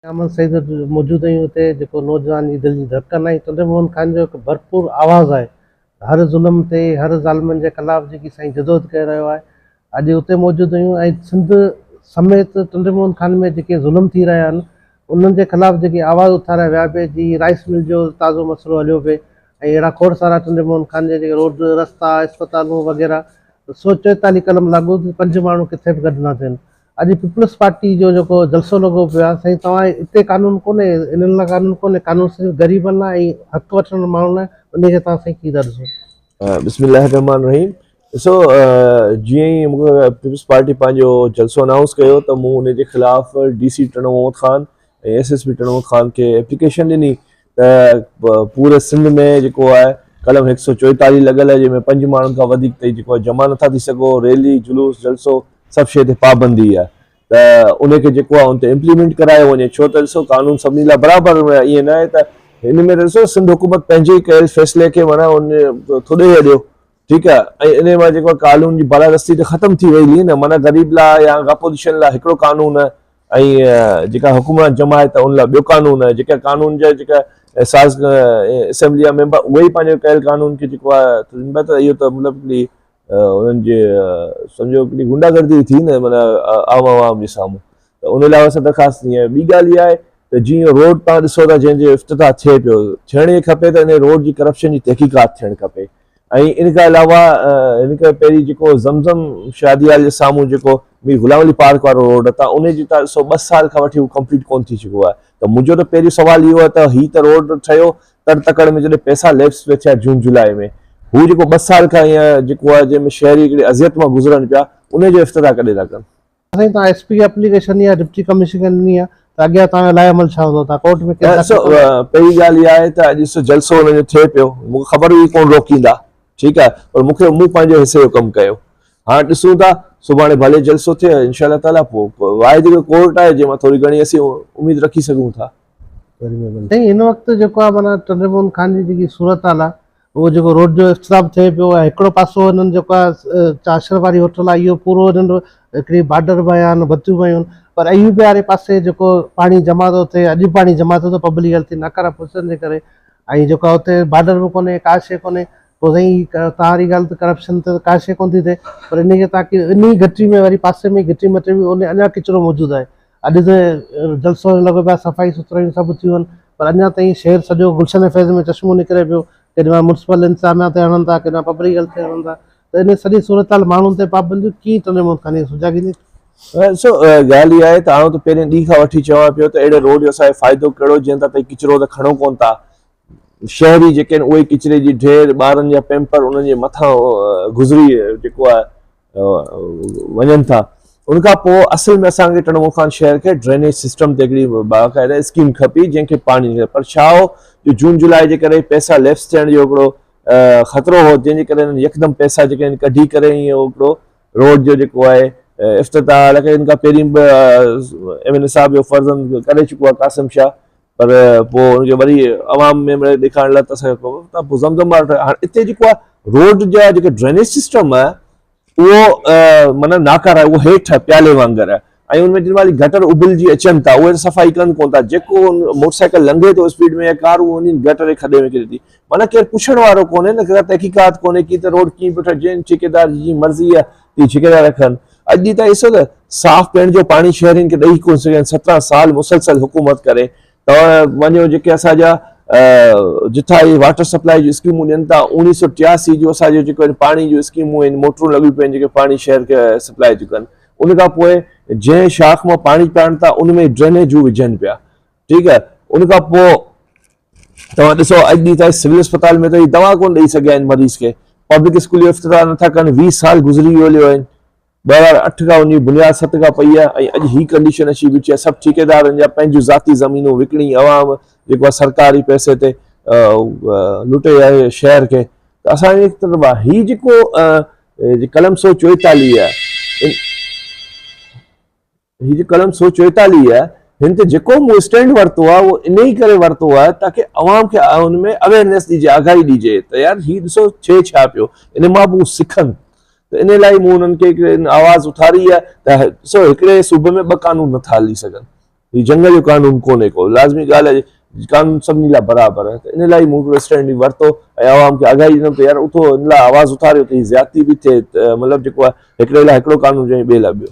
احمد سيد موجود هيون اتي جيڪو نوجوان جي دل جي ڌڙڪن آهي تنده موهن خان جو هڪ ڀرپور آواز آهي هر ظلم تي هر ظالمن جي خلاف جيڪي سائين جدوجهد ڪري رهيو آهي اڄ اتي موجود هيون ۽ سنڌ سميت تنده موهن خان ۾ جيڪي ظلم ٿي رهيا آهن انهن جي خلاف جيڪي آواز اٿاريا ويا پي جي رائس مل جو تازو مسئلو هليو پي ۽ اهڙا کوڙ سارا تنده موهن خان جا جيڪي روڊ رستا اسپتالون وغيره سوچ چويتاليهه قلم لاڳو پنج ماڻهو ڪٿي به گڏ نه ٿين اڄ پيپلز پارٽي جو جيڪو جلسو لڳو پيو آهي سائين توهان اتي قانون ڪونهي انهن لاء قانون ڪونهي قانون صرف غريبن لاء ۽ حق وٺندڙ ماڻهن لاء انهي کي توهان سائين ڪي ٿا ڏسو. بسم الله الرحمٰن الرحيم ڏسو جيئن ئي مون کي پيپلز پارٽي پنهنجو جلسو انائونس ڪيو ته مون ان جي خلاف D C Tando Muhammad Khan ۽ S S P Tando Muhammad Khan کي ايپليڪيشن ڏني ته پوري سنڌ ۾ جيڪو آهي قلم هڪ سؤ چوئيتاليهه لڳل آهي جنهن ۾ پنج ماڻهن کان وڌيڪ تائين جيڪو آهي جمع نٿا ٿي سگهو ريلي جلوس جلسو سڀ شيء تي پابندي آهي ته ان کي جيڪو آهي ان تي امپليمينٽ ڪرايو وڃي ڇو ته ڏسو قانون سڀني لاء برابر ائين نه آهي ته ان ۾ ڏسو سنڌ حڪومت پنهنجي ڪيل فيصلي کي معنيٰ ان ٿو ڏيهه اڏيو ٺيڪ آ ۽ انهي مان جيڪو آ قانون جي بالادستي ته ختم ٿي وئي لي نه معنيٰ غريب لا يا اپوزيشن لا هڪڙو قانون آ ۽ جيڪا حڪمران جماعت آ ان لا ٻيو قانون آ جيڪا قانون جا جيڪا ساز اسيمبلي جا ميمبر اهي ئي پنهنجو ڪيل قانون کي جيڪو آ سمجهندا ته اهو ته مطلب هڪڙي انهن جي سمجهو هڪڙي غنڊا گردي ٿي نه معنيٰ عام عوام جي سامهون ته ان لا اسان درخواست ڏني آهي ٻي ڳالهه اها آهي ته جي روڊ توهان ڏسو ٿا جنهن جو افتتاح ٿئي پيو ٿيڻ ئي کپي ته انهي روڊ جي ڪرپشن جي تحقيقات ٿيڻ کپي ۽ ان کان علاوه هن کي پهرين جيڪو زمزم شادي هال جي سامهون جيڪو مير غلام علي پارڪ وارو روڊ ته ان جي ته ڏسو ٻه سال کان وٺي هو ڪمپليٽ ڪونه ٿي سگهيو آهي ته منهنجو ته پهريون سوال اهو آهي ته هي ته روڊ ٺهيو تڙ تڪڙ ۾ جڏهن پئسا ليپس به ٿيا جون جولاء ۾ هو جيڪو ٻه سال کان هيئن جيڪو آهي جنهن ۾ شهري هڪڙي اذيت مان گذرن پيا ان جو افتتاح ڪڏهن ٿا ڪن سائين توهان ايس پي کي اپليڪيشن ڏني آهي ڊپٽي ڪمشنر کي ڏني آهي ته اڳيان توهان جو لاء عمل ڇا هوندو توهان ڪورٽ ۾ ڪيس داخل ڪندا. پهرين ڳالهه اها آهي ته اڄ سو جلسو انهن جو ٿئي پيو مون کي خبر هئي ڪونه روڪيندا ٺيڪ آهي پر مون کي مون پنهنجي حصي جو ڪم ڪيو هاڻ ڏسون ٿا سڀاڻي ڀلي جلسو ٿئي انشاء الله تعالي پوء واحد هڪ ڪورٽ آهي جنهن مان ٿوري گهڻي اسين اميد رکي سگهون ٿا. سائين هن وقت جيڪو آهي معنيٰ ٽنڊو موهن خان جي جيڪي صورتحال آهي. اهو جيڪو روڊ جو اختتام ٿئي پيو ۽ هڪڙو پاسو هنن جيڪو آهي چاشر واري هوٽل آهي اهو پورو هنن هڪڙي بارڊر بنايان بتيون بنايون پر ايوبي واري پاسي جيڪو پاڻي جمع ٿو ٿئي اڄ به پاڻي جمع ٿو ٿئي پبلڪ هيلٿ جي ناڪاره پرسن جي ڪري ۽ جيڪو آهي اتي بارڊر به ڪونهي ڪا شيء ڪونهي پوء سائين توهان واري ڳالهه ته ڪرپشن ته ڪا شيء ڪونه ٿي ٿئي پر ان کي تاڪي انهي گهٽي ۾ وري پاسي ۾ گهٽي مٿي به اڃا ڪچرو موجود آهي اڄ ته جلسو ائين لڳو پيو آهي صفائي سٿرايون سڀ ٿيون آهن پر اڃا تائين شهر سڄو گلشن فيض ۾ چشمو نڪري پيو ڪيڏي مهل ميونسپل انتظاميا تي هڻن ٿا ڪيڏي مهل پبلڪ هيلٿ تي هڻن ٿا ته ان سڄي صورتحال ماڻهن تي پابنديون ڪيئن ٽنهي ملڪ کانئن سجاڳيندي؟ ڏسو ڳالهه اها آهي ته آئون ته پهرين ڏينهن کان وٺي چوان پيو ته اهڙي روڊ جو اسان کي فائدو ڪهڙو جنهن تان تائين ڪچرو ته کڻو ڪونه ٿا شهري جيڪي آهن اهي ڪچري جي ڍير ٻارن جا پيمپر انهن جي مٿان گذري جيڪو آهي وڃن ٿا ان کان پوء اصل ۾ اسان کي ٽنمو خان شهر کي ڊرينيج سسٽم تي هڪڙي باقاعده اسڪيم کپي جنهن کي پاڻي پر ڇا هو جو جون جولاء جي ڪري پيسا ليپس ٿيڻ جو هڪڙو خطرو هو جنهن جي ڪري يڪدم پيسا جيڪي آهن ڪڍي ڪري ائين هڪڙو روڊ جو جيڪو آهي افتتاح حالانڪه ان کان پهرين به ايم اين اي صاحب جو فرزند ڪري چڪو آهي قاسم شاهه پر پوء ان کي وري عوام ۾ مڙيئي ڏيکارڻ لاء اسان کي پوي ته پوء زمزم وارو ٺاهي. هاڻي اتي جيڪو آهي روڊ جا جيڪي ڊرينيج سسٽم آهي اهو معنيٰ ناڪاره آهي. اهو هيٺ آهي پيالي وانگر آهي ۽ ان ۾ جن مهل گٽر اڀلجي اچن ٿا اهي صفائي ڪن ڪونه ٿا. جيڪو موٽر سائيڪل لنگهي ٿو اسپيڊ ۾ يا ڪار اهو وڃي گٽر جي کڏي ۾ ڪري ٿي. معنيٰ ڪير پڇڻ وارو ڪونهي نه ڪا تحقيقات ڪونهي ڪي ته روڊ ڪيئن پيو ٺهي جنهن ٺيڪيدار جي جيئن مرضي آهي اهي ڇڪي ٿا رکن. اڄ ڏينهن تان ڏسو ته صاف پيئڻ جو پاڻي شهرين کي ڏئي ڪونه سگهيا آهن، سترهن سال مسلسل حڪومت ڪري توهان وڃو جيڪي اسان جا جتھا اهي واٽر سپلائي جون اسڪيمون ڏين ٿا، اوڻيھ سؤ ٽياسي جون اسان جون جيڪو آهن پاڻي جون اسڪيمون آهن، موٽرون لڳيون پيون آهن جيڪي پاڻي شهر کي سپلائي ٿيون ڪن، ان کان پوء جنهن شاخ مان پاڻي پيئڻ ٿا ان ۾ ڊرينيجون وجهن پيا، ٺيڪ آهي، ان کان پوء توهان ڏسو اڄ ڏينهن تائين سول اسپتال ۾ ته هي دوا ڪونه ڏئي سگهيا آهن مريض کي، پبلڪ اسڪول جو افتتاح نه ٿا ڪن، ويهه سال گذري ويو ليو آهن، ٻه هزار اٺ کان انهي بنياد ست کان پئي آهي ۽ اڄ هي ڪنڊيشن اچي بيٺي آهي، سڀ ٺيڪيدارن جا پنهنجون ذاتي زمينون وڪڻي عوام جيڪو آهي سرڪاري پئسي تي لٽي آهي شهر کي ته اسان جي طرف آهي هي جيڪو قلم سو چوئيتاليهه آهي. هي جي قلم سو چوئيتاليهه آهي هن تي جيڪو مون اسٽينڊ ورتو آهي اهو انهي ڪري ورتو آهي تاڪي عوام کي ان ۾ اويرنيس ڏجي آگاهي ڏجي ته يار هي ڏسو ڇي ڇا پيو ان مان به هو سکن ته ان لاء مون انهن کي آواز اٿاري آهي ته ڏسو هڪڙي صوبي ۾ ٻه قانون نٿا هلي سگهن هي جنگ جو قانون ڪونهي ڪو لازمي ڳالهه آهي قانون سڀني لاء برابر آهي ته ان لاء مون هڪڙو اسٽينڊ ورتو ۽ عوام کي آگاهي ڏنم ته يار اٿو ان لاء آواز اٿاريو ته هي زيادتي به ٿئي مطلب جيڪو آهي هڪڙي لاء هڪڙو قانون جي ٻئي لاء ٻيو